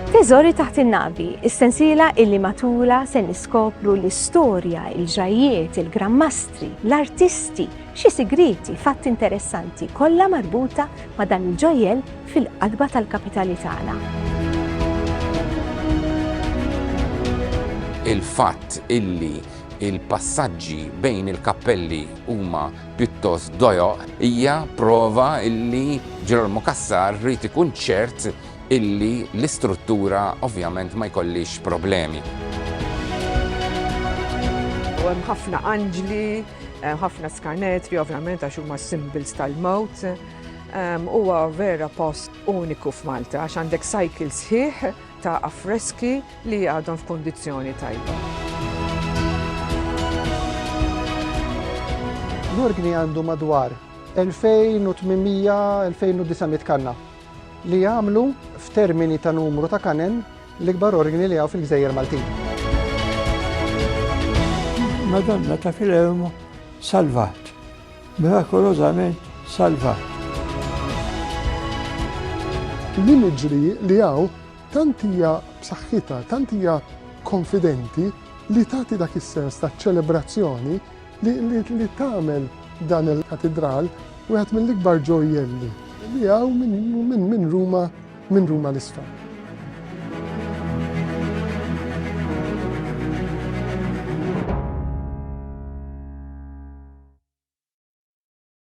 Teżori taħt in-nabi, is-sensiela illi matula se niskopru l-istorja, il-ġajjiet, il-grammastri, l-artisti, xi sigriti, fatt interessanti kollha marbuta ma' dan il-ġojjel fil-qalba tal-kapitali tagħna. Il-fatt illi il-passaġġi bejn il-kappelli huma pjuttost dojoq hija prova illi Ġerolmu Cassar ried ikun ċert illi l-istruttura ovvjament ma jkollhiex problemi. U hemm ħafna anġli, eh, ħafna skanetri, ovvjament għax huma symbols tal-mewt. Ehm, huwa vera post uniku f'Malta għax għandek cycle sħiħ ta' affreski li għadhom f'kundizzjoni tajba. L-ordni għandu madwar 2,800-2,900 kanna li jagħmlu, f'termini ta' numru ta' kanen, l-ikbar ordni li hawn fil-gżejjer Maltin. Madonna ta' Filemm Salvat. Mirakolożament salvat. L-imagery li hawn tant hija b'saħħitha, tant hija konfidenti li tagħti dak is-sens ta' ċelebrazzjoni li tagħmel dan il-katidral wieħed mill-ikbar ġojjelli li hawn minn Ruma Minn Ruma 'l isfel.